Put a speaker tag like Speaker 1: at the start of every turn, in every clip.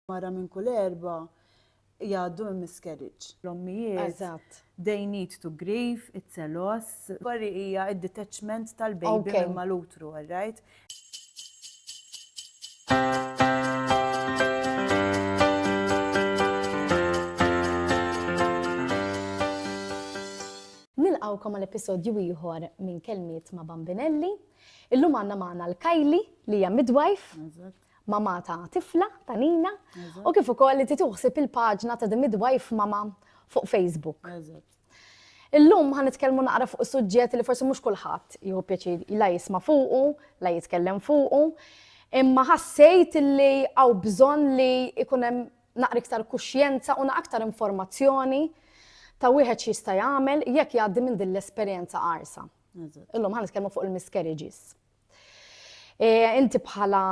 Speaker 1: Mara minn kull erba' jgħaddu minn miscarriage. L-ommijiet. Eżatt. They need to grieve, it's a loss. Worry hija d-detachment tal-baby minn mal-utru, all right?
Speaker 2: Nilqgħukom għal episodju ieħor minn Kelmiet ma' Bambinelli. Illum għandna magħna 'l Kylie li hija midwife. Eżatt. mama ta' tifla, ta' nina, u kif ukoll li tituħsib il-paġna ta' The Midwife Mama fuq Facebook. Illum ħan nitkellmu naqra fuq suġġett li forsi mhux kulħadd jieħu pjaċir la jisma' fuqu, la jitkellem fuqu, imma ħassejt li għaw bżonn li ikun hemm naqra iktar kuxjenza u aktar informazzjoni ta' wieħed x'jista' jagħmel jekk jgħaddi minn din l-esperjenza qarsa. Illum ħan nitkellmu fuq il-miscarriages. E, inti bħala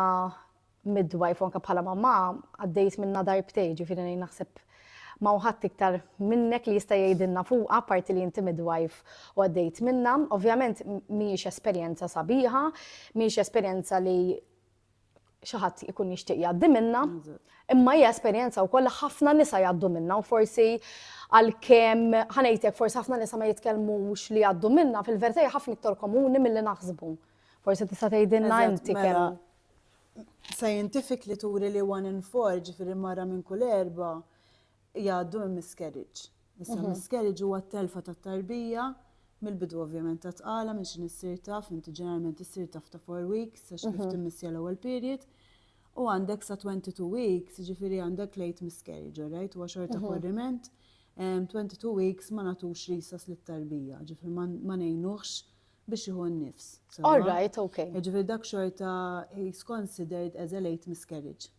Speaker 2: midwife, anka bħala mamma, għaddejt minna darbtej, ġifiri nejn naħseb ma uħat iktar minnek li jista' jgħidilna fuqa parti li inti midwife u għaddejt minna. Ovvjament mhijiex esperjenza sabiħa, mhijiex esperjenza li xi ħadd ikun jixtieq jgħaddi minna, imma hija esperjenza wkoll li ħafna nisa jgħaddu minna u forsi għalkemm ħanejtek forsi ħafna nisa ma jitkellmux li jgħaddu minna fil-verità hija ħafna iktar komuni milli naħsbu. Forsi tista' tgħidilna inti mela, kemm.
Speaker 1: Scientifically turi li one in four ġifieri mara minn kull erba' jgħaddu minn miscarriage. Issa miscarriage huwa t-telfa tat-tarbija mill-bidu ovvjament ta' tqala minn x'inhi ssir taf, inti ġeneralment issir taf ta' four weeks għax kif timmissja l-ewwel period, u għandek sa twenty two weeks, jiġifieri għandek late miscarriage, all right, huwa xorta korriment, twenty two weeks ma nagħtux resus lit-tarbija, ġifieri ma ngħinuhx biex jieħu n-nifs. All right, ok.
Speaker 2: Jiġifieri dak xorta
Speaker 1: he's considered as a late miscarriage.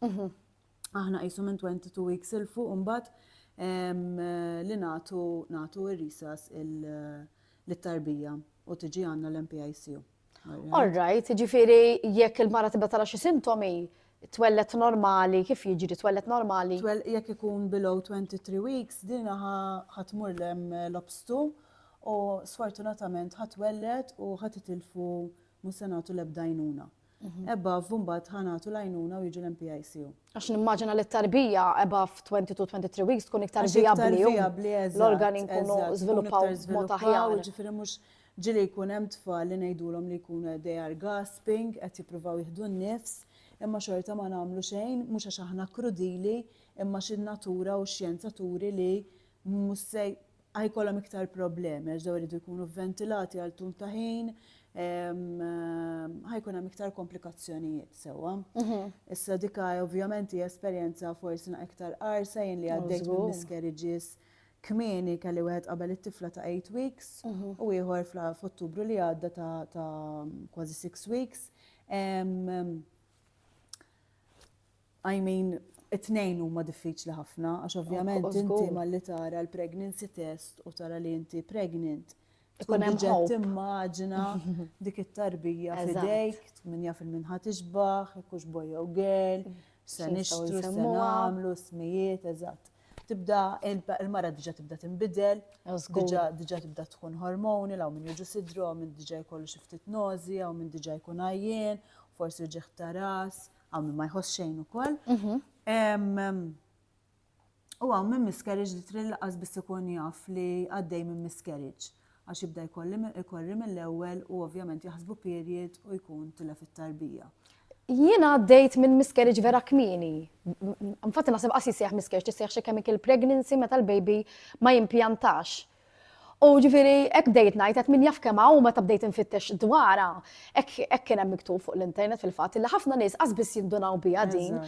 Speaker 1: aħna qisu minn 22 weeks 'il fuq imbagħad li nagħtu nagħtu r-risas lit-tarbija u tiġi għandna l-NPICU. All
Speaker 2: right, jiġifieri jekk il-mara tibda tara xi sintomi twellet normali, kif jiġri twellet normali? Twell jekk ikun
Speaker 1: below 23 weeks, din ħatmur lem l-obstu u sfortunatament ħatwellet u ħatitilfu mhux se nagħtu l-ebda għajnuna. Above mbagħad ħa nagħtu l-għajnuna u jiġu l-MPICU. Għax nimmaġina li
Speaker 2: t-tarbija above 22-23 weeks tkun iktar vijabbli. L-organi nkunu żviluppaw mod aħjar. Ġifieri mhux
Speaker 1: ġili jkun hemm tfal li ngħidulhom li jkunu they are gasping, qed jippruvaw jieħdu n-nifs, imma xorta ma nagħmlu xejn, mhux għax aħna krudili, imma xi natura u x-xjenza turi li mhux se A jkollhom iktar problemi għax dawn iridu jkunu vventilati għal tul ta' ħin, ħa jkun hemm iktar komplikazzjonijiet sewwa. Issa dika ovvjament hija esperjenza forsi naq iktar qarsa jien li għaddejt minn miscarriages kmieni kelli wieħed qabel it-tifla ta' eight weeks u ieħor f'Ottubru li għadda ta' kważi six weeks. I mean, it-tnejn huma diffiċli ħafna għax ovvjament inti malli tara l-pregnancy test u tara li inti pregnant. Ikun hemm ġed timmaġina dik it-tarbija f'idejk, min jaf il-min ħadd ixbaħ, ikux boy jew girl, se nixtru, se nagħmlu, smijiet, eżatt. Tibda il-mara diġà tibda tinbidel, diġà tibda tkun hormoni, law minn jiġu sidru, minn diġà jkollu xi ftit nożi, jew minn diġà jkun għajjien, forsi ġieħ ta' ras, Hawn min ma jħoss xejn ukoll. U hawn minn miscarriage li trid laqas biss ikun jaf li għaddej minn miscarriage għax jibda jkorri mill-ewwel u ovvjament jaħsbu period u jkun tilef it-tarbija. Jiena
Speaker 2: għaddejt minn miscarriage vera kmini. Infatti naħseb qas jissejjaħ miscarriage, tissejjaħ xi chemical pregnancy meta l-baby ma jimpjantax. U ġifieri hekk bdejt ngħid qed min jaf kemm hawn meta bdejt infittex dwarha, hekk hekk kien hemm miktub fuq l-internet fil-fatt li ħafna nies qas biss jindunaw biha din.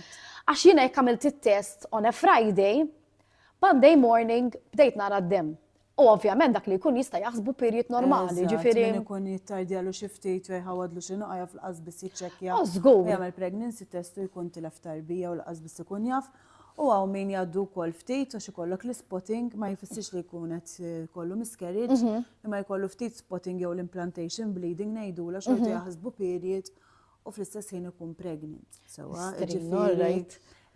Speaker 2: Għax jiena jekk għamilt it-test on a Friday, Monday morning bdejt nara d-demm. U ovvjament dak li jkun jista' jaħsbu period normali, ġifieri. Min ikun jittardjalu
Speaker 1: xi ftit jew jħawwadlu xi nuqqa jaf li qas biss jiċċekkja. Żgur. Jagħmel pregnancy
Speaker 2: test
Speaker 1: u jkun tilef tarbija u l-qas biss ikun jaf. U hawn min jgħaddu wkoll ftit għax ikollok l-spotting ma jfissirx li jkun qed kollu miscarriage, mhm. imma jkollu ftit spotting jew l-implantation bleeding ngħidula xorta mhm. jaħsbu period u fl-istess ħin ikun pregnant. Sewa, ġifieri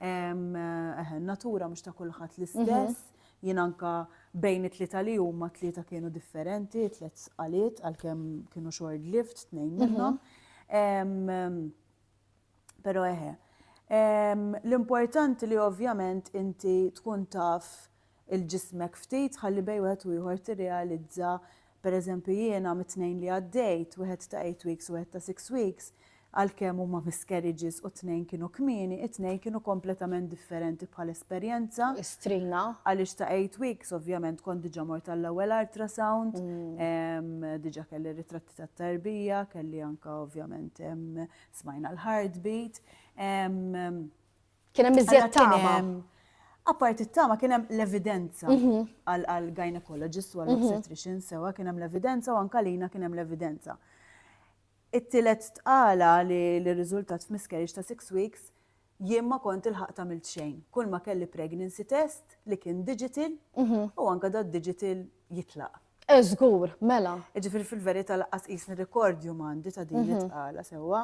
Speaker 1: eh, natura mhux ta' kulħadd mhm. l-istess, jien anka bejn it-tlieta li huma tlieta kienu differenti, tliet qalit għalkemm kienu short lived tnejn minnhom. Pero eħe. L-importanti li ovvjament inti tkun taf il-ġismek ftit ħalli bej wieħed u ieħor tirrealizza pereżempju jiena mit-tnejn li għaddejt, wieħed ta' eight weeks u wieħed ta' six weeks, għalkemm huma miscarriages u t-tnejn kienu kmieni, it-tnejn kienu kompletament differenti bħal esperjenza. Istrina.
Speaker 2: Għaliex ta' eight
Speaker 1: weeks ovvjament kont diġà mort għall-ewwel ultrasound, mm. diġà kelli ritratti tat-tarbija, kelli anka ovvjament Smajna l-heartbeat.
Speaker 2: Kien hemm iżjed tama. Apart
Speaker 1: it-tama kien hemm l-evidenza mhm. għal gynecologist u għal mhm. obstetrician sewa kien hemm l-evidenza u anka lina kien hemm l-evidenza. It-tielet tqala li l-riżultat f'miscarriage ta' six weeks Jien ma kont ilħaqt għamilt xejn. Kulma kelli pregnancy test li kien digital u anke da digital jitlaq. Eh żgur,
Speaker 2: mela. Jiġifieri fil-verità
Speaker 1: laqqas qisni rekordju m'għandi ta' din it-tqala sewwa.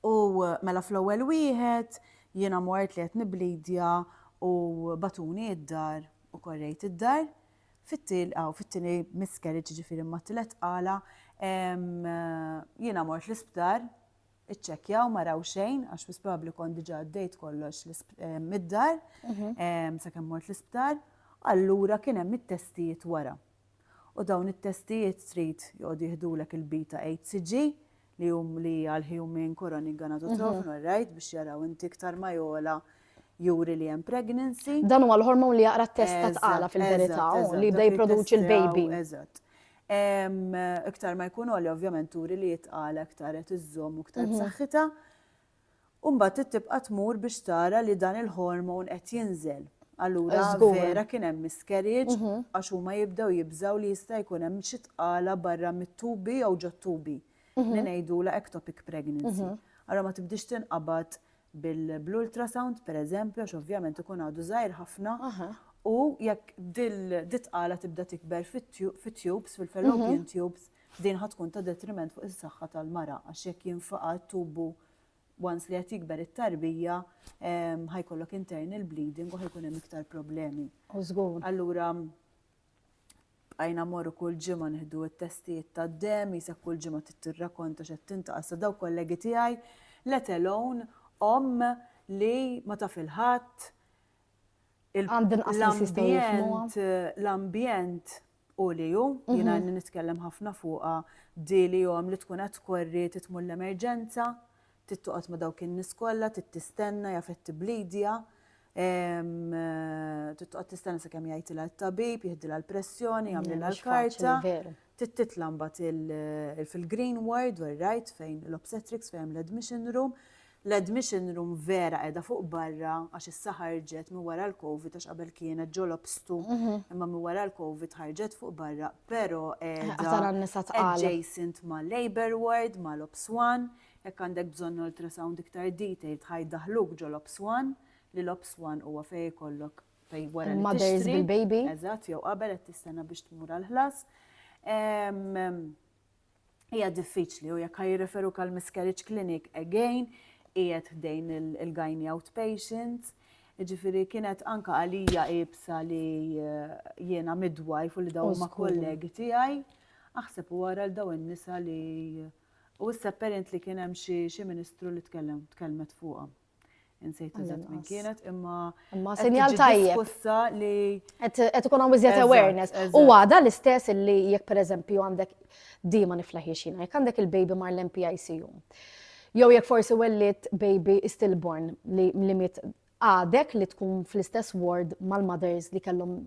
Speaker 1: U mela fl-ewwel wieħed jiena mort li qed nibblidja u bagħtuni d-dar u korrejt id-dar. Fit-tieni miscarriage jiġifieri ma' tliet tqala jiena mort l-isptar iċċekkjaw ma raw xejn, għax wis probabbli kont diġà għaddejt kollox mid-dar, mhm. sakemm mort l-isptar, allura kien hemm it-testijiet wara. U dawn it-testijiet trid joqgħod jihdulek il-bita HCG li hum li għal human koroni ganatotrofin, mhm. right, biex jaraw inti iktar ma jola juri li hemm pregnancy. Dan huwa l-hormon li jaqra t-test
Speaker 2: ta' tqala fil-verità li jibda jipproduċi l-baby. Eżatt.
Speaker 1: Iktar ma jkun għoli ovvjament turi li jitqala iktar qed iżżomm u iktar mhm. b'saħħitha. U mbagħad tibqa' tmur biex tara li dan il-hormon qed jinżel. Allura vera kien hemm miscarriage mhm. għax huma jibdew jibżaw li jista' jkun hemm xi tqala barra mit-tubi jew ġot-tubi. Mhm. Li ngħidula ectopic pregnancy. Allora ma tibdix tinqabad bil-ultrasound pereżempju għax ovvjament ikun għadu żgħir ħafna u jekk dil-tqala tibda tikber fit-tubes, fil-fallopian tubes, din ħa tkun ta' detriment fuq is-saħħa tal-mara għax jekk jinfaqa' t-tubu once li qed jikber it-tarbija ħa jkollok internal bleeding u ħa jkun hemm iktar problemi. Allura Bqajna mmorru kull ġimgħa nieħdu t-testijiet tad-demm, qisek kull ġimgħa trid tirrakonta x'qed tintaqal sa dawk kollegi tiegħi, let alone omm li ma taf il-ħadd, l-ambjent, l-ambjent hu li hu, jiena ilni nitkellem ħafna fuqha, di li omm li tkun qed tkorri trid tmur l-emerġenza, Trid toqgħod ma' dawk in-nies kollha, trid tistenna, jaf qed tibblidja, trid toqgħod tistenna sakemm jgħidilha t-tabib, jiħdilha l-pressjoni, jagħmlilha l-karta. Trid titla' mbagħad fil-green ward, where right, fejn l-obstetrics, fejn l-admission room. L-admission room vera qiegħda fuq barra għax issa ħarġet minn wara l-Covid għax qabel kienet ġol obstu, mhm. imma minn wara l-Covid ħarġet fuq barra, però qiegħda adjacent ma' labor ward, ma' l-obswan. Jekk għandek bżonn ultrasound iktar detailed ħa jdaħħluk ġol ops one, li l ops one huwa fejn ikollok fejn wara li tixtri. Il-mothers bil-baby.
Speaker 2: Eżatt, jew qabel qed
Speaker 1: tistenna biex tmur għall-ħlas. Hija diffiċli u jekk ħa jirreferuk għal miscarriage clinic again qiegħed ħdejn il-gynae outpatient. Ġifieri kienet anke għalija iebsa li eh, jiena midwife u li dawn ma' kollegi tiegħi. Aħseb u wara l dawn in-nisa li eh, U issa apparent li kien hemm xi xi ministru li tkellem tkellmet fuqha. Insejt eżatt min kienet imma Imma sinjal tajjeb.
Speaker 2: Diskussa li Qed qed ikun hawn iżjed Eżatt, awareness. U eżatt. għada l-istess illi jekk pereżempju għandek di ma niflaħiex jiena, jekk għandek il-baby mar l-MPICU. Jew jekk forsi wellidt baby stillborn li li miet għadek li tkun fl-istess ward mal-mothers li kellhom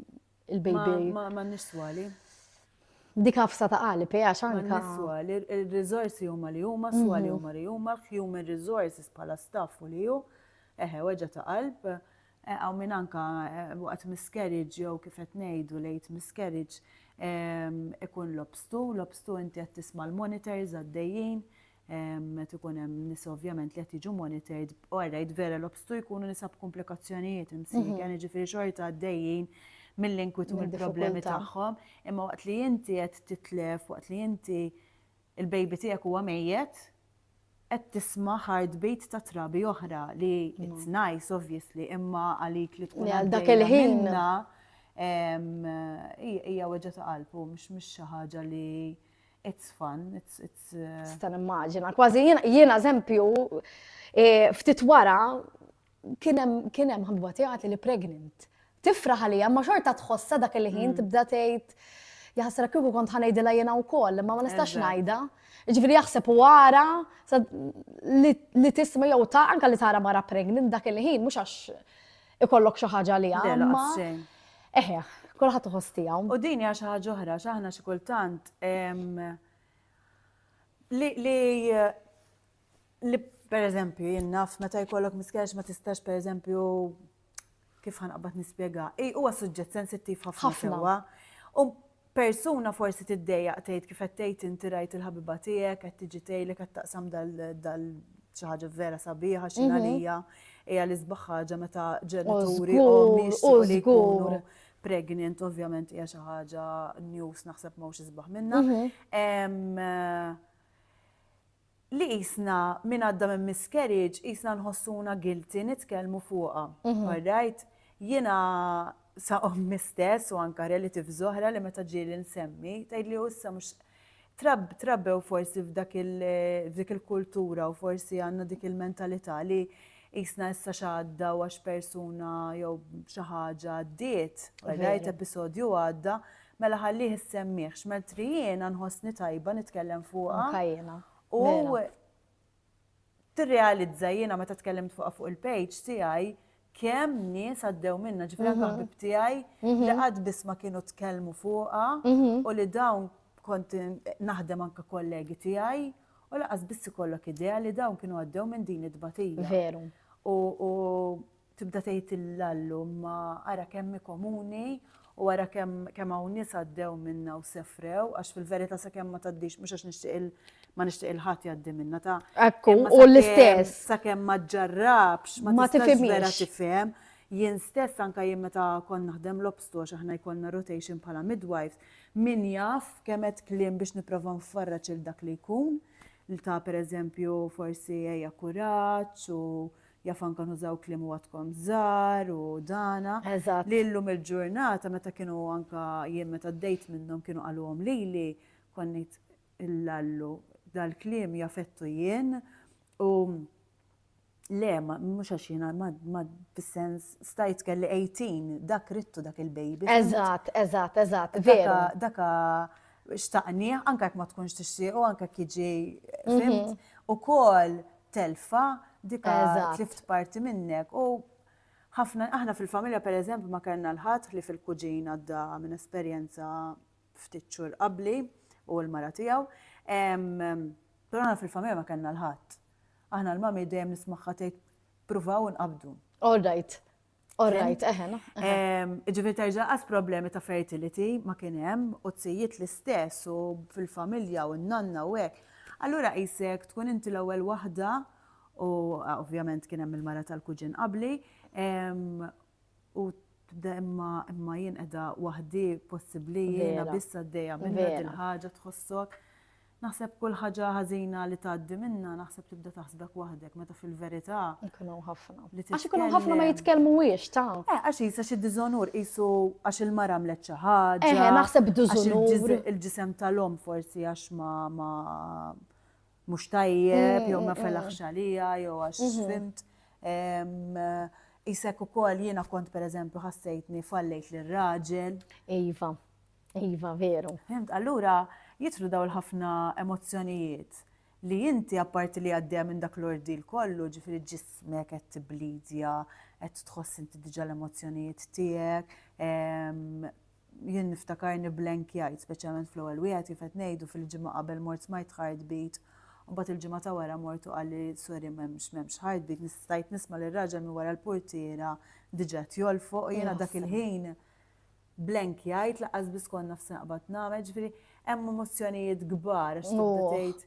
Speaker 2: il-baby. Ma nistwali. Dik għafsa ta' għali, peja xanka. Ma nistwali,
Speaker 1: il-rizorsi huma li huma, swali mhm. huma li huma, human resources pala staff u li ju, eħe, weġa ta' qalb, eh, għaw minn anka eh, waqt miscarriage jew kif qed ngħidu lejt miscarriage ehm, ikun lobstu, lobstu inti qed tisma' l-monitors għaddejjin, Qed ikun hemm nisa ovvjament li qed jiġu monitored, u għarrajt vera l-obstu jkunu nisa b'komplikazzjonijiet imsik, għani ġifiri xorta għaddejjin mill-inkwitu mill-problemi tagħhom, imma waqt li inti qed titlef, waqt li inti il-baby tiegħek huwa mejjet, qed tisma' heartbeat ta' trabi oħra li it's nice obviously, imma għalik li tkun għal dak il-ħin. Hija weġġa ta' qalbu, mhux xi ħaġa li It's fun, it's, it's... Uh, Sta nimmaġina,
Speaker 2: kważi jiena eżempju, e, ftit wara, kienem, kienem ħabba tiegħi li pregnant. Tifra ħalija, ma xorta tħossa dak il-ħin mm. tibda tgħid jaħsra kieku kont ħanejdilha jiena wkoll, ma ma nistax ngħidha. Ġifieri jaħseb u għara li tisma' jew ta' anke li tara mara pregnant dak il-ħin mhux għax ikollok xi ħaġa li għamma. Eħe, kulħadd iħoss tiegħu. U din hija xi ħaġa oħra,
Speaker 1: x'aħna xi kultant li li per eżempju jinnaf meta jkollok miskex ma tistax per eżempju kif ħanqabad nispjega. Ej, huwa suġġett sensittiv ħafna sewwa. U Persuna forsi tiddejjaq tgħid kif qed tgħid inti rajt il-ħabiba tiegħek qed tiġi tgħidlek qed taqsam dal xi ħaġa vera sabiħa xi għalija hija l-isbaħ ħaġa meta ġenituri u jixtiequ li jkunu pregnant ovvjament hija xi ħaġa news naħseb m'hawnx isbaħ minnha. Mhm. li qisna min għadda minn miscarriage qisna nħossuna guilty nitkellmu fuqha. Alright? Jiena sa ommi stess u anke relatives oħra li meta ġieli nsemmi tgħidli u issa mhux trabbew forsi f'dak f'dik il-kultura u forsi għandna dik il-mentalità li qisna issa x'għadda u għax persuna jew xi ħaġa għaddiet, alright, episodju għadda, Mela ħallih issemmih, x'melt ri jiena nħossni tajba nitkellem fuqha. Anka jiena. U tirrealizza jiena meta tkellimt fuqha fuq il-page tiegħi kemm nies għaddew minnha, ġifieri anke ħbieb tiegħi li qatt biss ma kienu tkellmu fuqha u li dawn kont naħdem anke kollegi tiegħi u lanqas biss ikollok idea li dawn kienu għaddew minn din it-tbatija. Veru. U Tibda tgħid il-lallu, imma ara kemm hi komuni u ara kemm kemm hawn nies għaddew minnha u sefrew, għax fil-verità sakemm ma tgħaddix mhux għax nixtieq ma nixtieq il ħadd jgħaddi minnha ta' Ekku, u
Speaker 2: l-istess. Sakemm ma
Speaker 1: ġġarrabx, ma tistax vera tifhem. Jien stess anke jien meta kont naħdem l-obstu għax aħna jkollna rotation bħala midwives, min jaf kemm għedt kliem biex nipprova nfarraġ lil dak li jkun, ta' pereżempju forsi ejja kuraġġ u Jaf anka nużaw kliem u għadkom żgħar u dana. Eżatt. Li llum il-ġurnata meta kienu anka jien meta għaddejt minnhom kienu qaluhom lili, kont ngħid il-lallu dal-kliem jafettu jien u le mhux għax jiena ma fis-sens stajt kelli 18 dak rittu dak il-baby. Eżatt, eżatt, eżatt,
Speaker 2: veru. Daka
Speaker 1: xtaqnieh, anke jekk ma tkunx tixtiequ, anke jekk jiġi fimt, ukoll telfa dik tlift parti minnek. U ħafna aħna fil-familja pereżempju ma kellna l-ħadd ħlief il-kuġin għadda minn esperjenza ftit xhur qabli u l-mara tiegħu. Però aħna fil-familja ma kellna l-ħadd. Aħna l-mami dejjem nismagħha tgħid pruvaw inqabdu. All right.
Speaker 2: Orrajt, eħe, no?
Speaker 1: Ġifiri terġa għas problemi ta' fertility ma kienem u t-sijiet l-istess u fil-familja u n-nanna u għek. Allura jisek tkun inti l-ewel wahda u ovvjament kienem il-mara tal-kuġin qabli u tibda imma imma jien edha wahdi possibli jena bissa d-deja minna dil-ħagġa tħossok. Naħseb kull ħaġa ħażina li tgħaddi minnha naħseb tibda taħsbek waħdek meta fil-verità. Ikun hawn ħafna.
Speaker 2: Għax ikun hawn ħafna ma jitkellmuhiex ta'. Eh, għax jisa xi diżonur
Speaker 1: qisu għax il-mara għamlet xi ħaġa. Eh, eh naħseb diżonur.
Speaker 2: Il-ġisem tal-om
Speaker 1: forsi għax ma ma mhux tajjeb, jew ma mm, mm, mm. felaħx għalija, jew għax mhm. fimt. Isek ukoll jiena kont pereżempju ħassejtni fallejt lir-raġel. Iva.
Speaker 2: Iva, veru. Fimt, allura
Speaker 1: jidħlu dawn il-ħafna emozzjonijiet li inti apparti li għaddejja minn dak l-ordil kollu, ġifieri ġismek qed tibblidja, qed tħoss inti diġà l-emozzjonijiet tiegħek, ehm, jien niftakarni blank jgħid, speċjalment fl-ewwel wieħed kif qed ngħidu fil-ġimgħa qabel mort smajt heartbeat, u mbagħad il-ġimgħa ta' wara mort u qalli sorry m'hemmx m'hemmx heartbeat, nistajt nisma' lir raġel minn wara l-portiera diġà tjol fuq jiena dak il-ħin Blank jgħid laqqas biss kont naf x'naqbad nagħmel, ġifieri hemm emozzjonijiet kbar għax tibda tgħid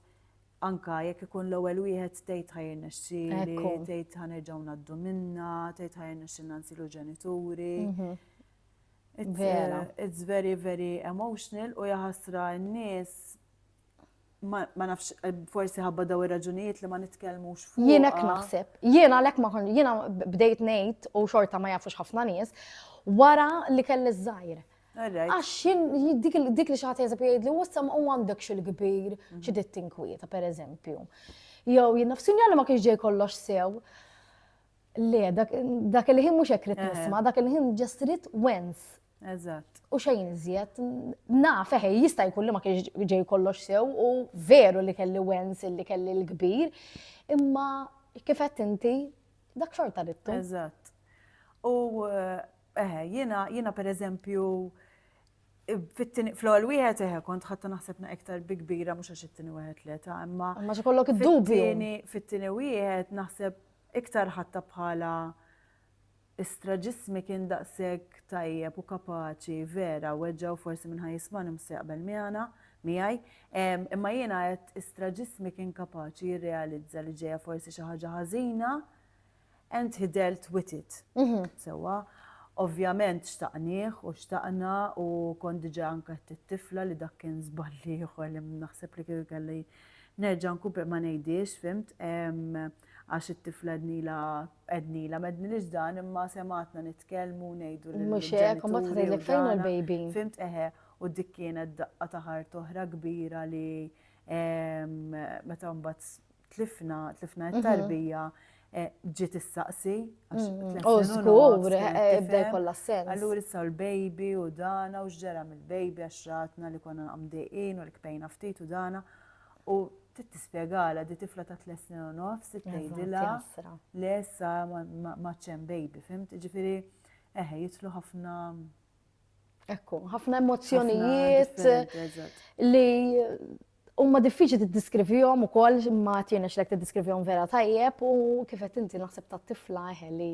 Speaker 1: anke jekk ikun l-ewwel wieħed tgħid ħa jirnexxieli, tgħid ħa nerġgħu ngħaddu minnha, tgħid ħa jirnexxilna nsiru ġenituri. Vera. It's very very emotional u jaħasra n-nies ma nafx eh, forsi ħabba daw ir-raġunijiet li ma nitkellmux fuq. Jien hekk naħseb.
Speaker 2: Jien għalhekk ma jiena bdejt ngħid u xorta ma jafux ħafna nies wara li kelli żgħir. Għax dik li xaħat jazab jgħid li wassam u għandek xil-kbir mhm. xi tinkwieta per eżempju. Jew jien nafsin li ma kienx ġej kollox sew. Le, dak il-ħin mhux hekk rid nisma', dak il-ħin ġestrit wens Eżatt. U
Speaker 1: xejn iżjed,
Speaker 2: naf eħe, jista' jkun li ma kienx ġej kollox sew u veru li kelli wens li kelli l-kbir, imma kif qed inti dak xorta rittu. Eżatt.
Speaker 1: U eħe, jiena jiena pereżempju fl-ewwel wieħed eħe kont ħatta naħseb na iktar bi kbira mhux għax it-tieni wieħed li ta' imma. Ma xi kollok id-dubju.
Speaker 2: Fit-tieni
Speaker 1: wieħed naħseb iktar ħatta bħala Istra ġismi kien daqshekk tajjeb u kapaċi, vera, weġġa' u forsi minn ħa jismagħni mhux se jaqbel miegħna, miegħi, imma jiena għedt istra ġismi kien kapaċi jirrealizza li ġejja forsi xi ħaġa ħażina and he dealt with it sewwa. Ovvjament xtaqnih u xtaqna u kont diġà anke għedt lit-tifla li dak kien żball ieħor li naħseb li kieku kelli nerġa' nkun ma ngħidhiex, fhimt, għax it-tifla għednilha Għednilha, m'għednilhiex dan imma semgħatna nitkellmu u ngħidu lill-ġenituri. Mhux hekk, u mbagħad tgħidlek
Speaker 2: fejn hu l-baby? Fhimt, eħe,
Speaker 1: u dik kienet daqqa ta' ħart oħra kbira li meta mbagħad tlifna, tlifna mhm. t-tarbija, eh, ġiet issaqsi. U mm, oh,
Speaker 2: żgur, ebda eh, kollha sens. Allura issa l-baby
Speaker 1: u dana u x'ġara mill-baby għax ratna li konna għamdejqin u l-kpejna ftit u dana. U trid tispjegalha di tifla ta' tliet snin u nofs, tgħidilha le sa ma ċem baby, fimt? Ġifieri eħe jitlu ħafna
Speaker 2: Ekku, ħafna emozjonijiet li huma diffiċli tiddiskrivihom ukoll ma tienx lek tiddiskrivihom vera tajjeb u kif qed inti naħseb tat-tifla eħe li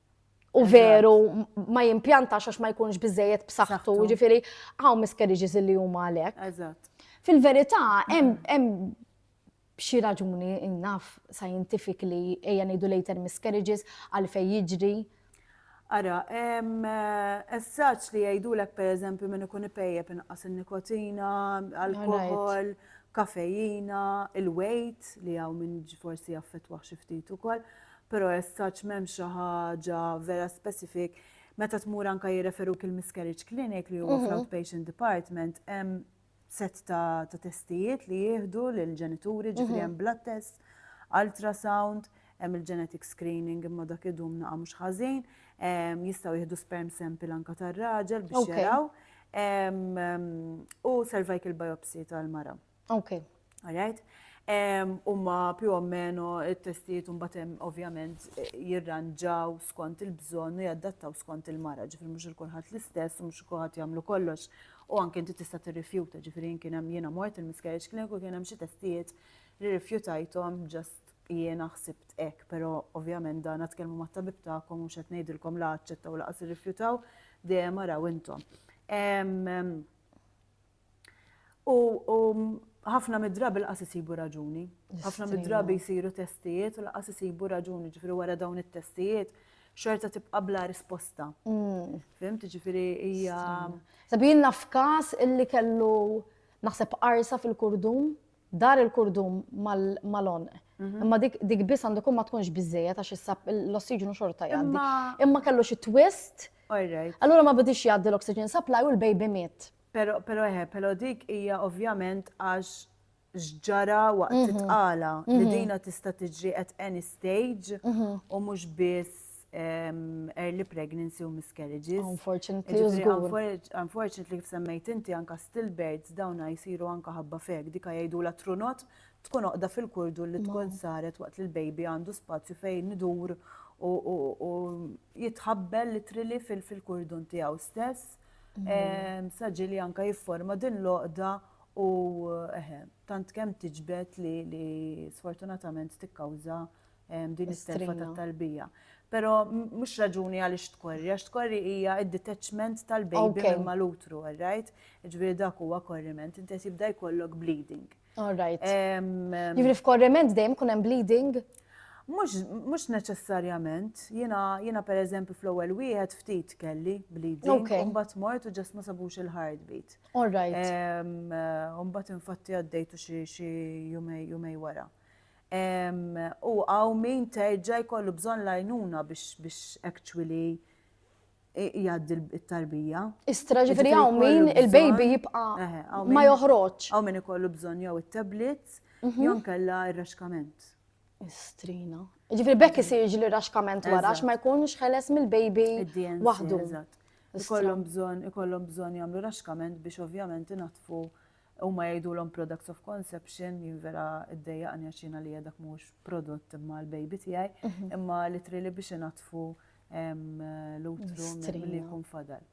Speaker 2: u veru ma jimpjantax għax ma jkunx biżejjed b'saħħtu, ġifieri hawn miscarriages li huma għalhekk. Eżatt. Fil-verità hemm xi raġuni innaf scientific li ejja ngħidu later miscarriages għalfej jiġri. Ara,
Speaker 1: hemm essaġġ li jgħidulek pereżempju minn ikun ipejjeb inqas in-nikotina, alkohol, kafejina, il-weight li hawn minn forsi jaffettwah xi ftit ukoll. Però as such m'hemmx xi ħaġa vera specific. Meta tmur anke jirreferuk il-miscarriage clinic li huwa fl-outpatient department hemm set ta' testijiet li jieħdu lill-ġenituri, ġifieri hemm blood test, ultrasound, hemm il-genetic screening imma dak idum naqa' mhux ħażin, jistgħu jieħdu sperm sample anke tar-raġel biex jaraw u cervical biopsy tal-mara. Okay. All right? Umma più o meno il-testijiet un batem ovvjament eh, jirranġaw skont il-bżon u jaddattaw skont il-mara, ġifri mux il-kulħat l-istess, mux il-kulħat jamlu kollox, u anke inti tista' tirrifjuta, ġifri kien hemm jiena mort il-miscarriage clinic u kien hemm xi testijiet li rifjutajthom ġast jiena ħsibt ek, pero ovvjament dan għatkelmu ma tabib ta'kom u xet nejdilkom la għacċettaw laqas rifjutaw, dejjem araw intom. U ħafna mid-drabi laqas isibu raġuni. Ħafna mid-drabi jsiru testijiet u laqas isibu raġuni, ġifiri wara dawn it-testijiet, xorta tibqa bla risposta. Mm. Fimt, ġifiri hija. Sabin naf
Speaker 2: kas illi kellu naħseb arsa fil-kurdum, dar il-kurdum mal-on. Mhm. Imma dik biss għandu kum ma tkunx bizzejet għax issab l-ossiġnu xorta jgħaddi. Imma kellu xi twist. Allura ma bidix jgħaddi l-oxygen supply u l-baby miet. Pero, pero eħe, pero
Speaker 1: dik hija ovvjament għax x'ġara waqt mhm. it-tqala li mhm. dina tista' tiġri at any stage mhm. u mhux biss early pregnancy u miscarriages. Unfortunately, Unfortunately, kif semmejt inti anka stillbirths dawna jisiru anka ħabba fek, dika jgħidu la trunot tkun oqda fil-kurdu li tkun saret waqt li l-baby għandu spazju fejn nidur u jitħabbel li trili fil-kurdun tiegħu stess. Ehm, Saġi li anka jifforma din l-oqda u eħe, tant kemm tiġbed li, li sfortunatament tikkawża ehm, din is-selfa ta' talbija. Pero mhux raġuni għaliex tkorri, għax tkorri hija id-detachment tal-baby okay. mal-utru, right? Ġbir dak huwa korriment, inti jibda jkollok bleeding. All right.
Speaker 2: Jifri f'korriment dejjem kun hemm bleeding?
Speaker 1: Mux neċessarjament, jina, jina per eżempju fl-ewwel wieħed ftit kelli bleeding, okay. umbat mort u ġas ma sabux il-heartbeat. All right. Umbat infatti għaddejtu xi jumej wara. U għaw min terġa jkollu bżon lajnuna biex actually jgħaddi t-tarbija. Istra ġifiri għaw
Speaker 2: min il-baby jibqa ma joħroġ. Għaw min ikollu bżon
Speaker 1: jew il-tablets, mhm. jew kella il-raxkament. Istrina.
Speaker 2: Ġifiri bekk isir ġili raxkament wara, ma jkunx ħeles mill-baby wahdu. Ikollhom
Speaker 1: bżon, ikollhom bżon jagħmlu raxkament biex ovvjament inatfu u ma jgħidulhom products of conception jinvera id-dejjaqni għaxina li dak mhux prodott imma l-baby tiegħi, mhm. imma li trili biex inatfu l-utru li jkun fadal.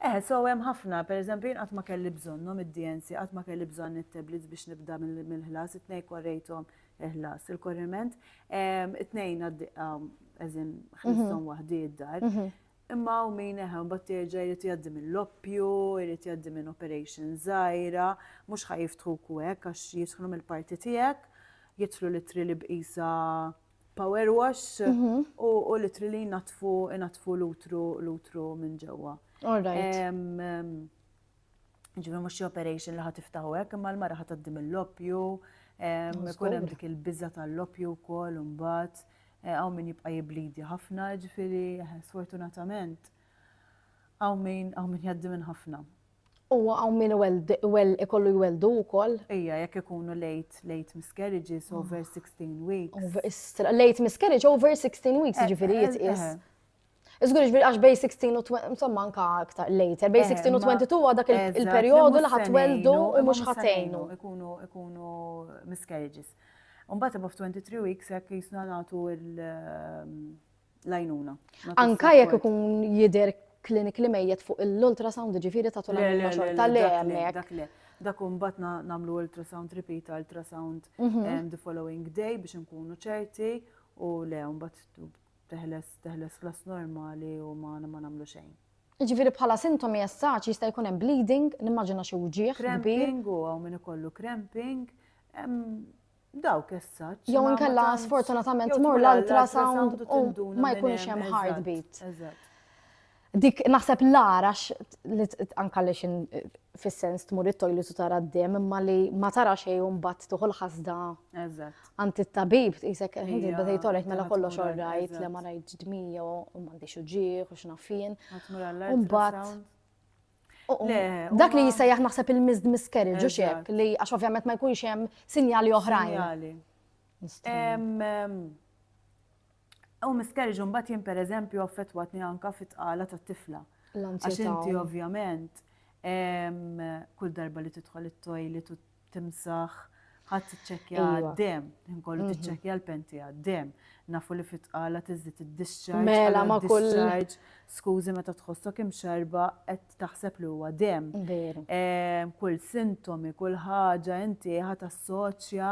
Speaker 1: Eh, so hemm ħafna, per eżempju, jien qatt ma kelli bżonnhom id-DNC, qatt ma kelli bżonn it-tablets biex nibda mill-ħlas, it-tnej korrejthom il-ħlas, il-korriment, it-tnejn għaddiqa, eżin, ħlistom mhm. waħdi id-dar. Mhm. Imma u min eħe, bat terġa jrid jaddi minn l-oppju, jrid jaddi minn operation zaħira, mux ħajiftħu kwek, għax jiftħlu mill-parti tijek, jitlu litri li bqisa power wash u litri li jnatfu jnatfu l-utru l-utru minn ġewwa. Ġifieri mhux xi operation li ħadd tiftaħu hekk, imma l-mara ħadd tgħaddi mill-loppju, ikun hemm dik il-biża tal-loppju wkoll imbagħad hawn min jibqa' jiblidi ħafna, ġifieri sfortunatament hawn min hawn min jgħaddi minn ħafna. U hawn
Speaker 2: min ikollu jwelldu wkoll. Ija, jekk ikunu
Speaker 1: late, late miscarriages, over 16 weeks. Late miscarriage
Speaker 2: over 16 weeks, ġifieri jitqies. Iżgur ġifieri għax bej 16 u 20, insomma anka aktar later, bej 16 u 22 huwa dak il-perjodu li ħadd weldu u mhux ħatejnu. Ikunu, ikunu
Speaker 1: miscarriages. Imbagħad above 23 weeks jekk jisna nagħtu il- l-għajnuna. Anka jekk
Speaker 2: ikun jider klinik li mejjet fuq l-ultrasound ġifiri ta' tul għajnuna xorta li għemmek. Dak umbat
Speaker 1: namlu ultrasound repeat, ultrasound mhm. eh, the following day biex nkunu ċerti u le umbat teħles teħles klas normali u ma namlu xejn. Ġifiri bħala
Speaker 2: sintomi jessaċ jista' jkun hemm bleeding, nimmaġina xi wġieħ. Cramping u hawn min
Speaker 1: ikollu cramping, Dawk essaċ. Jew inkella
Speaker 2: sfortunatament mor l-ultrasound u ma jkunx hemm heartbeat. Dik naħseb l-arax li anka li xin fis-sens tmur it-toilet u tara d-dem imma li ma tara xejn u mbagħad tuħu l-ħasda. Eżatt. Għand it-tabib tqisek ħinti bdejt tolek mela kollox orrajt li ma rajt ġdmija u m'għandix uġieħ u x'nafien. Mbagħad Dak li jisajjaħ naħseb il-missed miscarriage, u xek, li għax ovvjament ma jkunx hemm sinjali oħrajn.
Speaker 1: U miscarriage un bat jien per eżempju affettwatni anka fit-tqala ta' tifla. Għax inti ovvjament kull darba li tidħol it-toilet u timsaħ, ħadd tiċċekkja għad-dem, ħin kollu tiċċekkja l-penti għad-dem. Nafu li fit-tqala tiżdid id-discharge. Mela ma kull.
Speaker 2: Skużi
Speaker 1: meta tħossok imxerba qed taħseb li huwa dem. Kull sintomi, kull ħaġa inti ħadd assoċja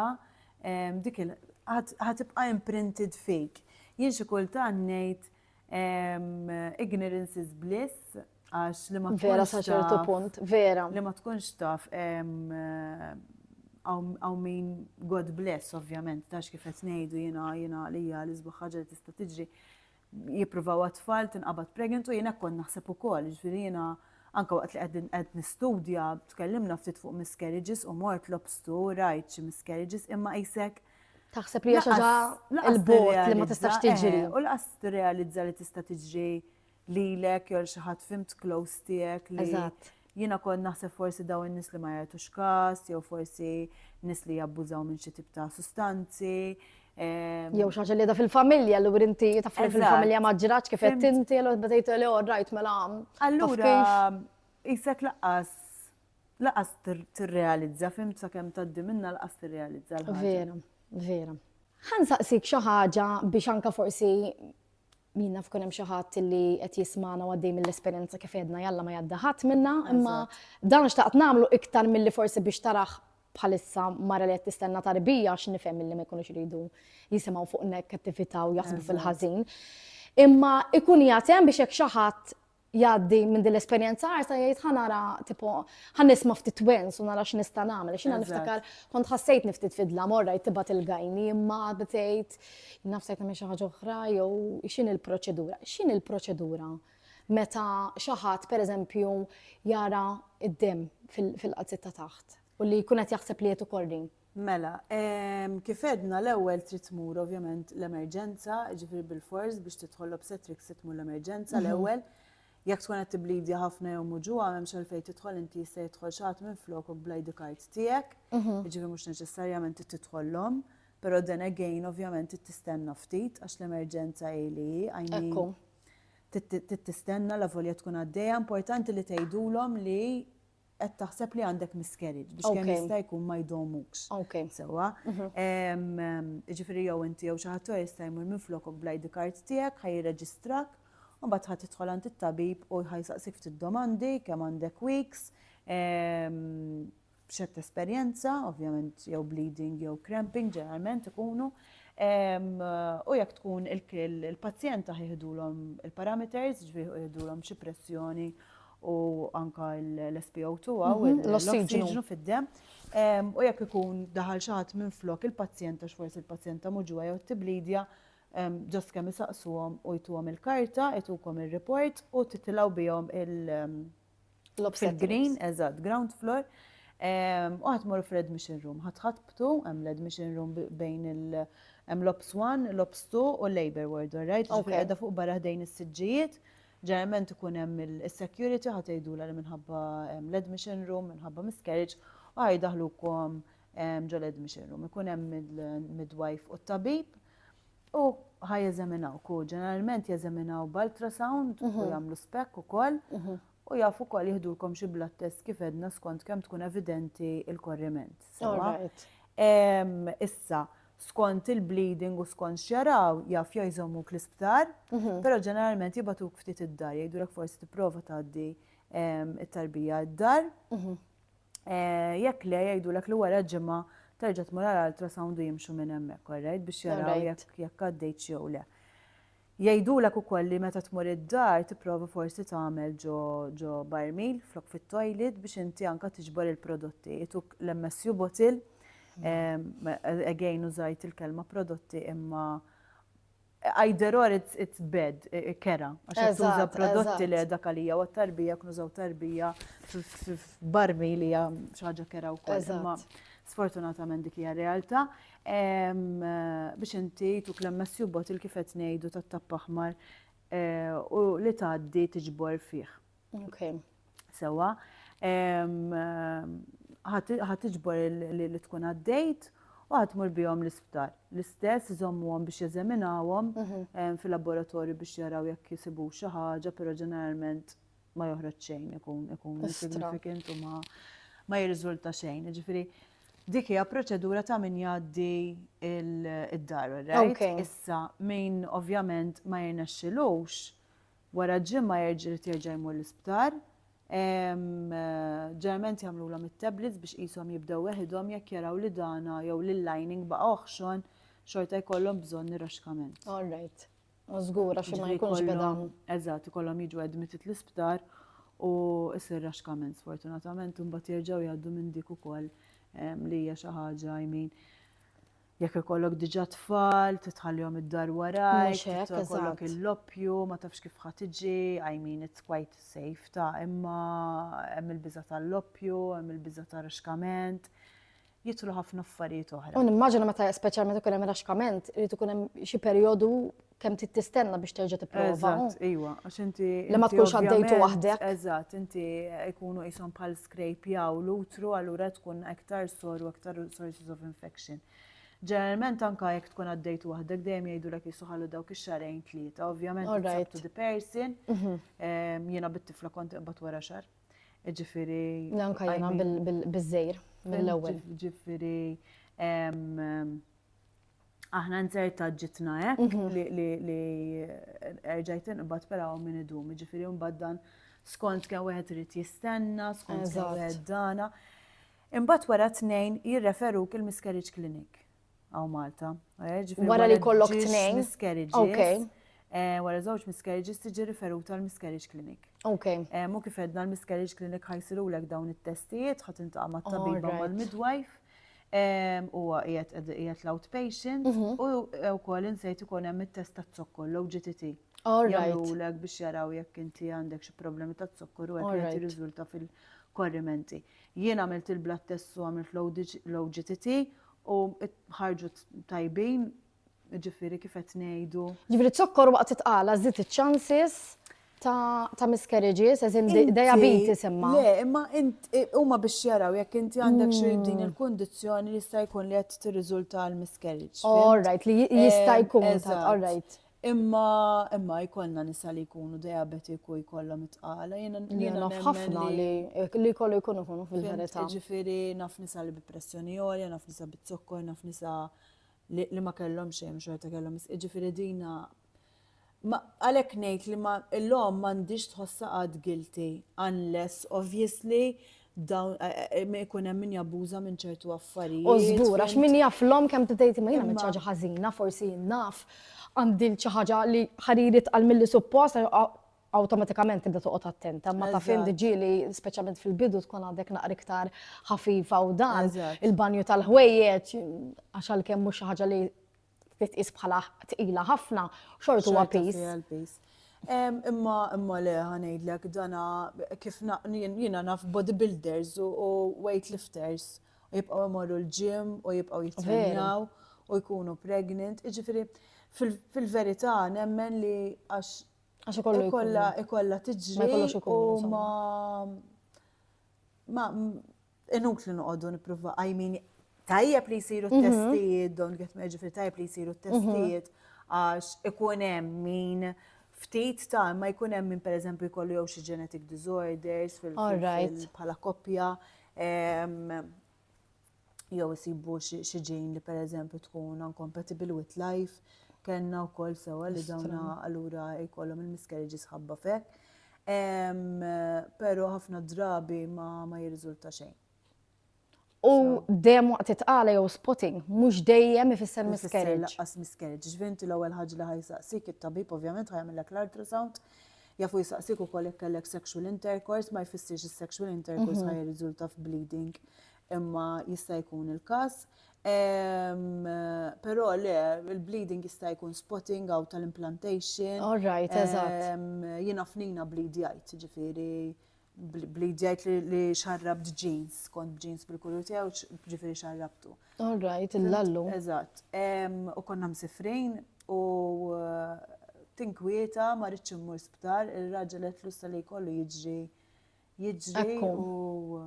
Speaker 1: dik il ħatibqa' imprinted fik. Jien xi kultant ngħid Ignorance is bliss, għax li ma tkunx. Vera sa ċertu punt,
Speaker 2: vera. Li ma tkunx taf
Speaker 1: għaw min God bless, ovvjament, tax kif qed ngħidu jiena jiena għalija li sbaħ ħaġa li tista' tiġri jippruvaw għatfall tinqabad pregnant u jiena kont naħseb ukoll, ġifieri jiena anke waqt li qegħdin qed nistudja tkellimna ftit fuq miscarriages u mort lobstu rajt xi miscarriages imma isek Taħseb li hija xi ħaġa
Speaker 2: il-bot li ma tistax tiġri. U laqas tirrealizza
Speaker 1: li tista' tiġri lilek jew xi ħadd fimt close tiegħek li. Eżatt Jiena kont naħseb forsi daw in-nies li ma jagħtux kas, jew forsi nies li jabbużaw minn xi tip ta' sustanzi. Ehm,
Speaker 2: jew xaġa li da fil-familja, l inti tafri fil-familja ma ġraċ kif qed tinti, l bdejt li oh, rajt mela. Allura,
Speaker 1: isek laqqas Laqas tirrealizza, fimt sakemm tgħaddi minnha laqas tirrealizza l-ħaġa. Vera, vera.
Speaker 2: Ħa nsaqsik xi ħaġa biex anke forsi min naf kun hemm xi ħadd li qed jismana u għaddej mill-esperjenza kif għedna jalla ma jadda ħadd minna, imma dan xtaqt nagħmlu iktar milli forsi biex taraħ bħalissa mara li qed tistenna tarbija għax nifhem milli ma jkunux iridu jisimgħu fuq negattività u jaħsbu fil-ħażin. Imma ikun jagħtem biex hekk xi ħadd jgħaddi minn din l-esperjenza għarsa jgħid ħa nara tipo ħa nisma' ftit twins u nara x'nista' nagħmel. X'ina niftakar kont ħassejt niftit fidla morra jtibat il-gajni imma għadda tgħid nafsajt nagħmel xi ħaġa oħra jew x'in il-proċedura. X'in il-proċedura meta xi ħadd pereżempju jara id-dem fil-qazzetta taħt u li jkun qed jaħseb li qed ukoll Mela,
Speaker 1: kif għedna l-ewwel trid tmur ovvjament l-emerġenza, jiġifieri bilfors biex tidħol l-obstetrics trid tmur l-emerġenza mhm. l-ewwel. Jekk tkun qed tiblidja ħafna jew muġuha m'hemmx għalfejn tidħol inti jista' jidħol xi ħadd minn flokok bl-ID card tiegħek, mhm. jiġifieri mhux neċessarjament trid tidħollhom. Però then again ovvjament trid tistenna ftit għax l-emerġenza hi li għajni trid tistenna la volja tkun għaddejja importanti li tgħidulhom li qed taħseb li għandek miscarriage biex kemm jista' jkun ma jdomux. Sewwa. Jiġifieri jew inti jew xi ħadd jista' jmur minflokok bl-ID card tiegħek ħa jirreġistrak, u mbagħad ħa tidħol għand it-tabib u ħa jsaqsik ftit domandi kemm għandek weeks, x'qed tesperjenza, ovvjament jew bleeding jew cramping ġeneralment ikunu. U jekk tkun il-pazjenta ħa jieħdulhom il-parameters, jiġifieri ħa jieħdulhom xi pressjoni u anka l-SPO2 għaw, l-ossiġnu fid-dem, u jekk ikun daħal xaħat minn flok il-pazjenta xforsi il-pazjenta muġuwa jew t-tiblidja, ġas kemm isaqsuhom u jtuhom il-karta, jtukom il-report u titilaw bihom il-green, eżat, ground floor, u għatmur fl-admission room, għatħatbtu, għem l-admission room bejn il-għem l-ops 1, l-ops 2 u l-labor ward, għarajt, għadda fuq barra ħdejn il-sidġijiet, Ġeneralment ikun hemm is-security ħa tgħidulha li minħabba l-admission room, minħabba miscarriage, u ħa jdaħlukom ġo l-admission room. Ikun hemm il-midwife u t-tabib u ħa jeżaminawk u ġeneralment jeżaminaw b'ultrasound u mhm. jagħmlu spekk ukoll mhm. u jafu wkoll jihdulkom xi blood test kif edna skont kemm tkun evidenti il-korriment. Issa, skont il-bleeding u skont x'jaraw jafja jżommuk l-isptar, però ġeneralment jibatuk ftit id-dar, jgħidulek forsi tipprova tgħaddi ehm, it-tarbija id-dar. Mhm. Eh, jekk le jgħidulek li wara ġimgħa terġa' tmur għal ultrasound u jimxu minn hemmhekk, alright, biex jaraw jekk għaddejt jew le. Jgħidulek ukoll li meta tmur id-dar tipprova forsi tagħmel ġo ġo barmil flok fit-toilet biex inti anke tiġbor il-prodotti. Ituk l-MSU bottle, again użajt il-kelma prodotti imma either or it's, it's bad, kera, għax qed tuża Eżatt, prodotti eżatt. li dak għalija u għat-tarbija jekk nużaw tarbija f- f- f'barmil hija xi ħaġa kera wkoll. Imma Eżatt. sfortunatament dik hija r-realtà. biex inti tu klem Matthew Bottle kif qed ngħidu tat-tapp aħmar eh, u li tgħaddi tiġbor fih. Okay. Sewa, ħat tiġbor li tkun għaddejt u għatmur bihom l-isptar. L-istess għom biex jeżaminawhom mhm. fil-laboratorju biex jaraw jekk jisibu xi ħaġa, però ġeneralment ma joħroġ xejn ikun ikun significant u ma ma jirriżulta xejn. Ġifieri dik hija proċedura ta' min jgħaddi id-dar, right? Issa min ovvjament ma jirnexxilux wara ġimma jerġa' jerġa' jmur l-isptar. Ġerment jagħmlulhom it-tablets biex qishom jibdew weħidhom jekk jaraw li dana jew l-lining baqa' oħxon xorta jkollhom bżonn ir-raxkament. All right.
Speaker 2: Żgura xi ma jkunx bidan. Eżatt, ikollhom jiġu
Speaker 1: admitted l-isptar u jsir raxkament sfortunatament u mbagħad jerġgħu jgħaddu minn dik ukoll li hija xi ħaġa jmin. Jekk ikollok diġà tfal, titħallihom id-dar warajk, ikollok il-loppju, ma tafx kif ħadd iġi, I mean it's quite safe ta' imma hemm il-biża' tal-loppju, hemm il-biża' ta' raxkament. jidħlu ħafna affarijiet oħra. U nimmaġina meta speċjalment
Speaker 2: ikun hemm raxkament, irid ikun hemm xi perjodu kemm trid tistenna biex terġa' tipprova. Eżatt, iva, għax
Speaker 1: inti. Li ma tkunx għaddejtu
Speaker 2: waħdek. Eżatt, inti
Speaker 1: jkunu qishom bħal scrape jaw l-utru allura tkun aktar sor u aktar sources of infection. Ġeneralment anka jekk tkun għaddejt waħdek dejjem jgħidulek jisuħalu dawk ix-xarejn tlieta, ovvjament to the person. Mhm. Ehm, jiena bit-tifla kont iqbad wara xar. Ġifiri. Lanka jena
Speaker 2: bil-żejr, mill-ewel. Ġifiri,
Speaker 1: aħna nzerta ġitna ek mhm. li erġajt inqbad peraw minn idum, ġifiri mbagħad dan skont kemm wieħed irid jistenna, skont kemm wieħed dana. Imbagħad wara tnejn jirreferu il-miscarriage clinic.
Speaker 2: għaw Malta.
Speaker 1: Eh, wara li kollok tnejn.
Speaker 2: Miscarriages. Eh,
Speaker 1: wara żewġ miscarriages tiġi riferuta l-miscarriage clinic. Ok. Eh, mu kif
Speaker 2: edna
Speaker 1: l-miscarriage clinic ħajsiru l dawn it-testijiet, ħat intaqa ma' tabiba ma' midwife u għajet għajet l-outpatient mhm. u kol insejt u konem il-test ta' zokkor, l-OGTT. Jgħamlulek biex jaraw jekk inti għandek xi problemi ta' zokkor u għek jirriżulta fil-korrimenti. Jien għamilt il-blood tests u għamilt l-OGTT u ħarġu tajbin, jiġifieri kif qed ngħidu. Jiġifieri z-zokkor waqt
Speaker 2: it-tqala żied iċ-chances ta' miscarriages, as in diabetes imma. Le, imma
Speaker 1: huma biex jaraw jekk inti għandek xi hmm. din il-kundizzjoni jista' jkun li qed tirriżulta l-miscarriage. All right, li
Speaker 2: jista' jkun, all right. Imma, imma
Speaker 1: jkollna nisa li jkunu diabetik u jkollhom it-tqala. Jiena jiena naf ħafna
Speaker 2: li li kollu jkunu jkunu fil-verità. Ġifieri naf
Speaker 1: nisa li bi pressjoni għolja, naf nisa bi zokkor, naf nisa li ma kellhom xejn u xorta kellhom ġifieri dina għalhekk ngħid li ma l-omm m'għandhiex tħossha qatt guilty unless obviously dawn eh, eh, eh, ma jkun hemm min jabbuża minn ċertu affarijiet. U żgur għax min
Speaker 2: jaf l-om kemm tgħid ma jiena minn ħaġa ħażina, forsi naf għandi xi ħaġa li ħaririt għal milli suppost awtomatikament tibda toqgħod attenta, ma ta' fejn diġieli speċjalment fil-bidu tkun għadek naqra iktar ħafifa u dan il-banju tal-ħwejjeġ għax għalkemm mhux xi ħaġa li li tqis bħala tqila ħafna, xort huwa piż. Imma
Speaker 1: imma le ħanejdlek dana kif jiena naf bodybuilders u weightlifters u jibqgħu jmorru l-ġim u jibqgħu jitrenjaw u jkunu pregnant. Iġifieri fil-verità nemmen li għax għax ikollu ikolla ikolla tiġri u ma ma Inutli noqogħdu nippruva għajmini tajjeb li jsiru mhm. t-testijiet, don't get me ġifri tajjeb li jsiru mhm. t-testijiet għax ikun hemm min ftit ta' ma jkun hemm min pereżempju jkollu jew xi genetic disorders bħala koppja jew isibu xi ġejn li pereżempju tkun uncompatible with life kellna wkoll sewwa li dawna allura jkollhom il-miscarriages ħabba fek. Pero ħafna drabi ma, ma jirriżulta xejn.
Speaker 2: U dejjem waqt it-tqala jew spotting, mhux dejjem ifisser miscarriage. Laqqas miscarriage,
Speaker 1: ġvinti l-ewwel ħaġa li ħajsaqsik it-tabib ovvjament ħajamillek l-ultrasound, jafu jisaqsik ukoll jekk kellek sexual intercourse, ma jfissirx is-sexual intercourse mhm. ħaj jirriżulta f'bleeding. Imma jista' jkun il-każ. Però le, il-bleeding jista' jkun spotting out tal-implantation. All right,
Speaker 2: eżatt. Jiena fnina
Speaker 1: bleed jgħid, ġifieri bleed jgħid li xarrabt jeans, kont b'jeans bil-kulur tiegħu, ġifieri xarrabtu. All right,
Speaker 2: il-lallu. Eżatt.
Speaker 1: U konna msifrin u tinkwieta ma rridx immur sptar, ir-raġel qed lista li jkollu jiġri jiġri u.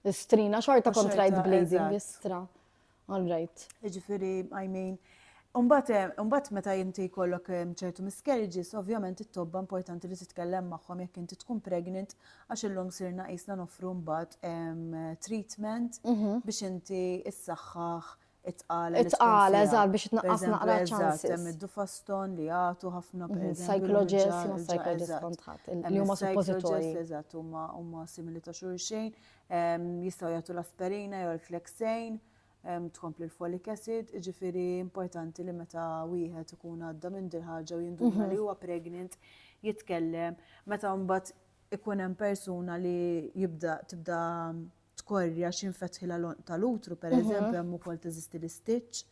Speaker 1: Istrina,
Speaker 2: xorta kontrajt bleeding, istra. All right. Ġifiri, I mean,
Speaker 1: Umbat, eh, umbat meta jinti kollok eh, ċertu miscarriages, ovvjament it-tobba importanti li titkellem magħhom jekk inti tkun pregnant għax illum sirna qisna nofru mbagħad treatment mhm. biex inti issaħħaħ Itqala.
Speaker 2: Itqala, eżatt, biex tnaqqas naqra ċansi. Hemm id-dufaston
Speaker 1: li jagħtu ħafna mhm, per Psychologist, ma psychologist
Speaker 2: kontħat, li huma suppożitorji. Eżatt, huma huma
Speaker 1: simili ta' xulxejn, ehm, jistgħu jagħtu l-aspirina jew l-flexejn, ehm, tkompli l-folic acid, ġifieri importanti li meta wieħed ikun għadda minn dil ħaġa u jinduna mhm. li huwa pregnant jitkellem, meta mbagħad ikun hemm persuna li jibda tibda tkorrja xi nfetħilha l-għonq tal-utru, pereżempju mhm. hemm ukoll teżisti l-istitch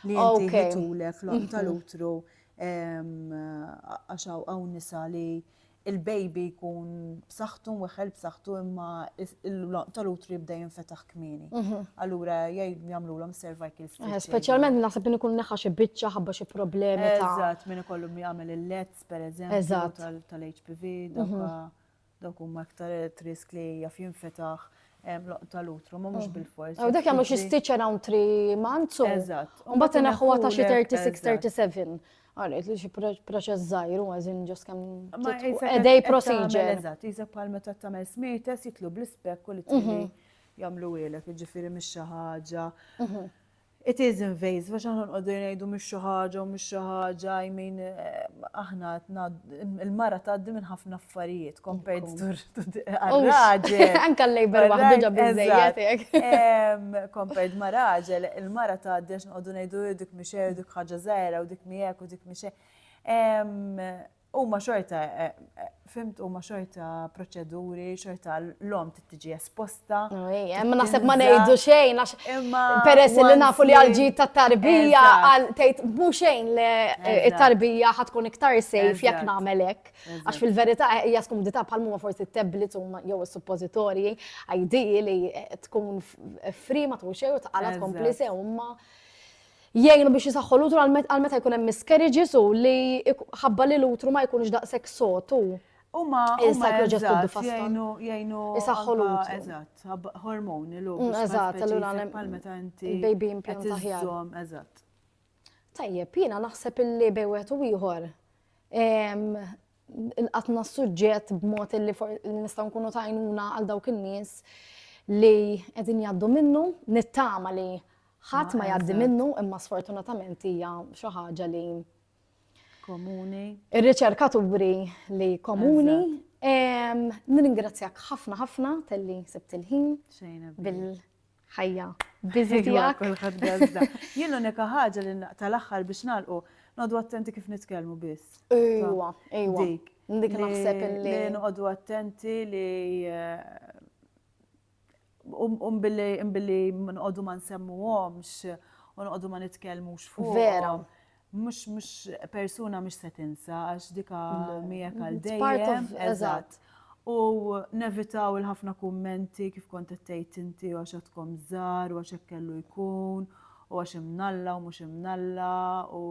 Speaker 1: li inti jitulek l-għonq mhm. tal-utru għax hawn nisa li il-baby jkun b'saħħtu weħel b'saħħtu imma l-loq tal-utru jibda jinfetaħ kmieni. Mhm. Allura jgħid jagħmlulhom cervical stitch. Eh, speċjalment naħseb min ikun
Speaker 2: neħa xi biċċa ħabba xi problemi ta' Eżatt, min ikollu jagħmel
Speaker 1: il-lets pereżempju tal-HPV mhm. Dawk huma iktar at risk li jaf jinfetaħ loq tal-utru, ma mhux bil-fors. U dak jagħmlu xi stitch
Speaker 2: around 3 months u. Eżatt. U mbagħad
Speaker 1: inaħħuha ta' xi
Speaker 2: 36-37. Għalet li xi proċess żgħir u għażin ġos kemm edej procedure. Eżatt, jiża bħal meta
Speaker 1: tagħmel smietes jitlu bl-ispekk u li tili jagħmlu ilek, jiġifieri mhix xi ħaġa. It is invasive għax aħna nqogħdu ngħidu mhix xi ħaġa u mhix xi ħaġa, I mean aħna qed ngħaddu, il-mara tgħaddi minn ħafna affarijiet compared to r-raġel. Anke l-labor
Speaker 2: waħdu ġab biżejjed hekk. Compared
Speaker 1: ma' raġel, il-mara tgħaddi għax nqogħdu ngħidu dik mhix hekk, dik ħaġa żgħira u dik mhi hekk u dik mhix hekk. Huma xorta, fimt, huma xorta proċeduri, xorta l-lom tiġi esposta. Ma naħseb ma
Speaker 2: ngħidu xejn, għax peress li nafu li għalġi ta' tarbija, għal tgħid bu xejn li eh, tarbija ħatkun iktar sejf jekk nagħmel hekk. Għax fil-verità eh, hija skumdità bħal huma forsi t-tablets jew is-suppożitorji, għajdi li eh, tkun fri ma tkun xejn u tqala tkompli sew Jgħinu biex jisaħħu l-utru għal meta jkun hemm miscarriages u li ħabba li l-utru ma jkunx daqshekk sod u Huma
Speaker 1: jgħinu jgħinu isaħħu
Speaker 2: l-utru. Eżatt,
Speaker 1: hormoni l-utru. Mm, eżatt, allura bħal
Speaker 2: meta inti
Speaker 1: baby implant aħjar.
Speaker 2: Eżatt.
Speaker 1: Tajjeb,
Speaker 2: jiena naħseb illi bej wieħed u ieħor nqatna s-suġġett b'mod li nistgħu nkunu tajnuna għal dawk in-nies li qegħdin jgħaddu minnu, nittama li Ħadd ma jgħaddi minnu imma sfortunatament hija xi ħaġa li
Speaker 1: komuni. Ir-riċerkaturi
Speaker 2: li komuni. Nirringrazzjak ħafna ħafna telli sibt il-ħin bil-ħajja biżi tiegħek.
Speaker 1: Jien l-unika ħaġa li tal-aħħar biex nagħlqu nodu attenti kif nitkellmu biss. Ejwa, ejwa.
Speaker 2: Dik naħseb li. Noqogħdu
Speaker 1: attenti li eh, U billi nqogħdu ma nsemmuhomx, u nqogħdu ma nitkellmux fuq. Vera.
Speaker 2: Mhux mhux
Speaker 1: persuna mhux se tinsa għax dika miegħek għal dejjem. Eżatt.
Speaker 2: U
Speaker 1: nevitaw il-ħafna kummenti kif kont qed tgħid inti għax għadkom żgħar u għax hekk kellu jkun u għax imnalla u mhux imnalla u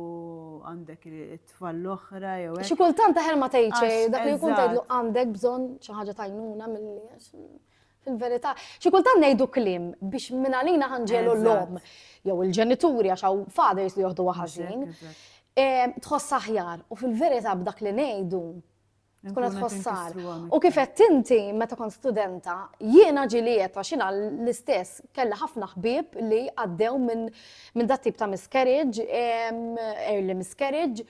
Speaker 1: għandek it-tfal l-oħra jew hekk. Xi kultant aħjar ma tgħidx
Speaker 2: dak li jkun tgħidlu għandek bżonn xi ħaġa tajnuna milli Fil-verità, xi kultant ngħidu kliem biex minn għalina ħanġelu l-lom jew il-ġenituri għax hawn fathers li joħdu ħażin. Tħoss aħjar u fil-verità b'dak li ngħidu tkun qed tħossar. U kif qed inti meta kont studenta, jiena ġiliet għax jiena l-istess kellha ħafna ħbieb li għaddew minn dat tip ta' miscarriage, early miscarriage,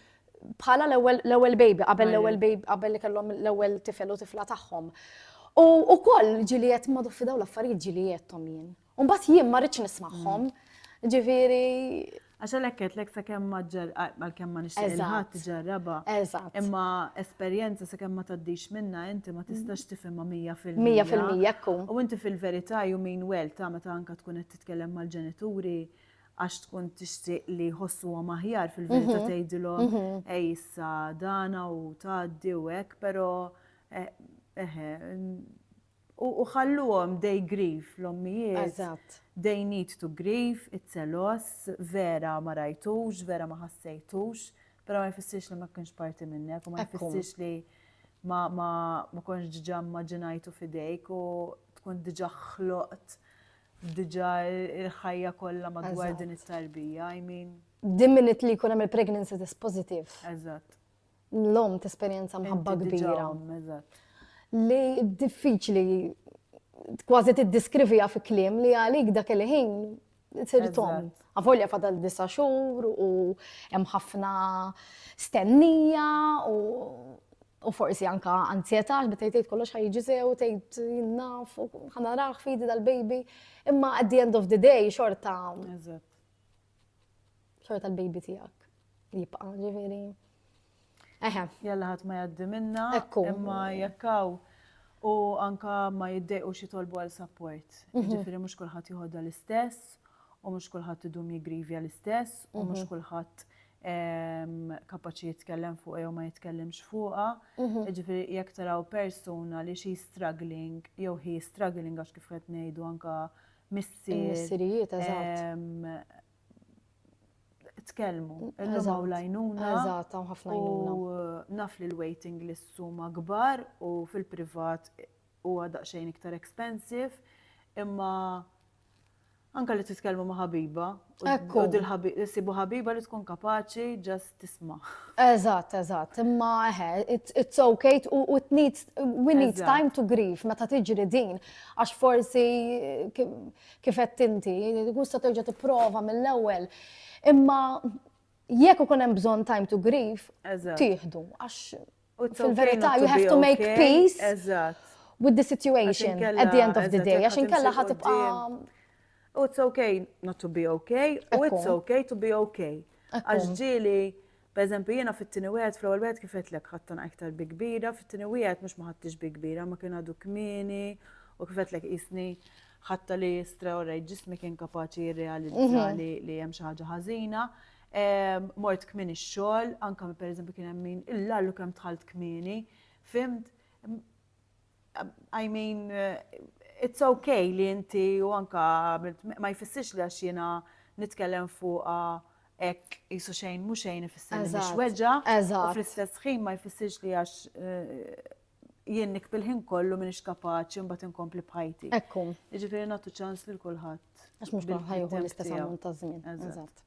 Speaker 2: bħala l-ewwel baby, qabel l-ewwel baby, qabel li kellhom l-ewwel tifel u tifla tagħhom. U wkoll ġili qed ma fidaw l-affarijiet ġili qedhom jien. U mbagħad jien ma rridx nismagħhom. Mm. Ġifieri Għaxa
Speaker 1: lekket lek sa kemm maġġar għal kemm ma nixtieq ħadd ġarraba. Eżatt. Imma esperjenza sa kemm ma taddix minna inti ma tistax tifhimha mija fil-mija. Mija fil-mija
Speaker 2: U inti fil-verità ju
Speaker 1: min wel ta' meta anka tkun qed titkellem mal-ġenituri għax tkun tixtieq li jħossuhom aħjar fil-verità mhm. tgħidilhom mhm. ej issa dana u tgħaddi u hekk, però eh, eh, u ħalluhom dej grif l-ommijiet. Eżatt. They
Speaker 2: need to
Speaker 1: grieve, it-selos, vera ma rajtux, vera ma ħassejtux, però ma jfissirx li ma kienx parti minnek u ma jfissirx li ma konx ġġamma ġinajtu fidejk u tkun diġa ħloqt Diġà il-ħajja kollha madwar din it-tarbija, I mean. Din minit li jkun hemm
Speaker 2: il-pregnancy test positive. Eżatt.
Speaker 1: L-om
Speaker 2: tesperjenza mħabba kbira.
Speaker 1: Li
Speaker 2: diffiċli kważi tiddiskriviha fi kliem li għalik dak il-ħin sir tom. Eżatt. Avolja fadal disa' xhur u hemm ħafna stennija u u forsi anka anzjetà għax bit tgħid kollox ħajġi sew, tgħid jinnaf, ħanaraħ fidi dal-baby. Imma at the end of the day xorta. Xorta l-baby tiegħek jibqa' ġifieri. Eħe.
Speaker 1: Jalla ħadd ma jgħaddi minna. Ekku. Imma jekk hawn u anka ma jiddejqu xi tolbu għal support. Mhm. Ġifieri mhux kulħadd joħodha l-istess u mhux kulħadd idum jigrivja l-istess u mhux mhm. kulħadd ehm, kapaċi jitkellem fuq jew ma jitkellimx fuqha. Mhm. Ġifieri jekk taraw persuna li xi struggling jew hi struggling għax kif qed ngħidu anka missier.
Speaker 2: Missirijiet eżatt. Ehm,
Speaker 1: tkellmu. Illum hawn l-għajnuna. Eżatt, hawn ħafna
Speaker 2: għajnuna. U naf li
Speaker 1: l-waiting lists huma kbar u fil-privat huwa daqsxejn iktar expensive, imma anke li titkellmu ma' ħabiba. Ekku. Sibu ħabiba li tkun kapaċi ġast tisma'. Eżatt, eżatt,
Speaker 2: imma eħe, it's okay u it needs, we need time to grieve meta tiġri din, għax forsi kif għedt inti, jkun sa terġa' tipprova mill-ewwel. Imma jekk ikun hemm bżonn time to grieve, tieħdu għax fil-verità you have to make peace with the situation at the end of the day għax inkella ħatibqa' U it's
Speaker 1: okay not to be okay, u it's okay to be okay. Għax ġieli Pereżempju, jiena fit-tieni wieħed, fl-ewwel wieħed kif għedtlek ħadt tanqa iktar bi kbira, fit-tieni wieħed mhux ma ħadtix bi kbira, ma kien għadu kmieni u kif għedtlek qisni ħadta li straordinary, ġismi kien kapaċi jirrealizza mhm. li hemm xi ħaġa ħażina. Ehm, mort kmieni x-xogħol, anke pereżempju kien hemm min il-lallu kemm tħalt kmieni, fimt I mean, it's okay li inti u anka ma jfissirx li għax jiena nitkellem fuqa ek jisu xejn mu xejn ifisser li mhux weġa. U fl-istess ħin ma jfissirx li għax eh, jien nikbil ħin kollu minix kapaċi mbagħad inkompli bħajti. Ekkum. Jiġifieri
Speaker 2: nagħtu ċans
Speaker 1: lil kulħadd. Għax mhux ħajħu
Speaker 2: l-istess ammont ta' żmien. Eżatt.